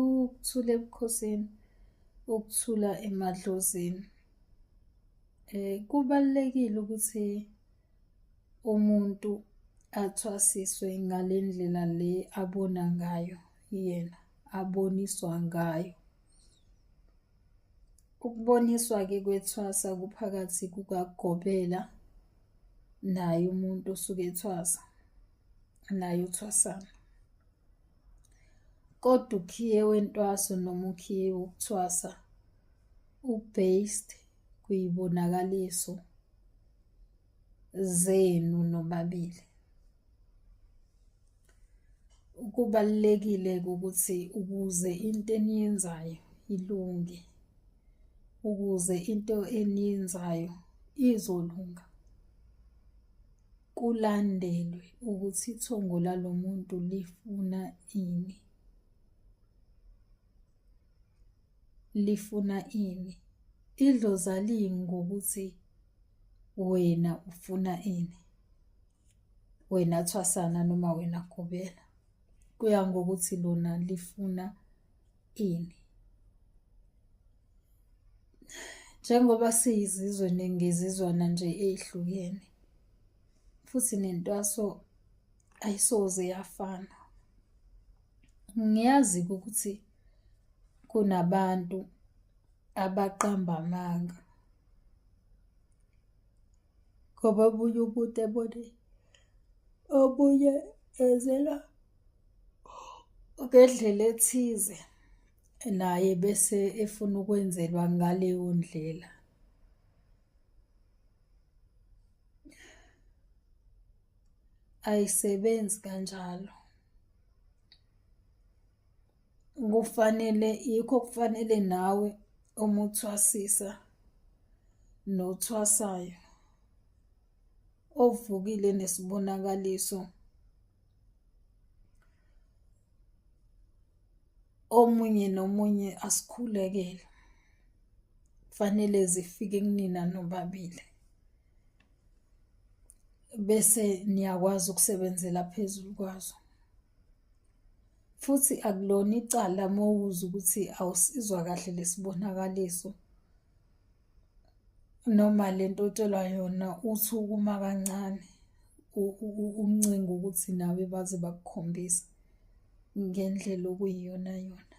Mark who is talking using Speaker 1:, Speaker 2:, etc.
Speaker 1: ukuthula ebukhosini ukuthula emadlozini eh kubalekile ukuthi umuntu athwasiswe ngalendlela le abona ngayo yena aboniswa ngayo ukuboniswa ke kwethwasa kuphakathi kukagobela naye umuntu osuke ethwasa naye uthwasana Kodwa ukhiye wentwaso noma ukhiye wokuthwasa u-based kuyibonakaliso zenu nobabili. Kubalulekile ukuthi ukuze into eniyenzayo ilunge, ukuze into eniyenzayo izolunga, Kulandelwe ukuthi ithongo lalo muntu lifuna ini. Lifuna ini? Idlozi aliyi ngokuthi wena ufuna ini. Wena thwasana noma wena gobela. Kuya ngokuthi lona lifuna ini njengoba siyizizwe nengezizwana nje ezihlukene futhi nentwaso ayisoze yafana ngiyazi ukuthi kunabantu abaqamba amanga ngoba obunye umuntu ebone obunye ezela Ngedlela ethize naye bese efuna ukwenzelwa ngaleyo ndlela. Ayisebenzi kanjalo. Kufanele yikho kufanele nawe uma uthwasisa nothwasayo ovukile nesibonakaliso omunye nomunye asikhulekele kufanele zifike kunina nobabili bese niyakwazi ukusebenzela phezulu kwazo futhi akulona icala mowuza ukuthi awusizwa kahle lesibonakaliso noma le nto otshelwa yona uthi ukuma kancane umncinga ukuthi nawe baze bakukhombisa ngendlela okuyiyona yona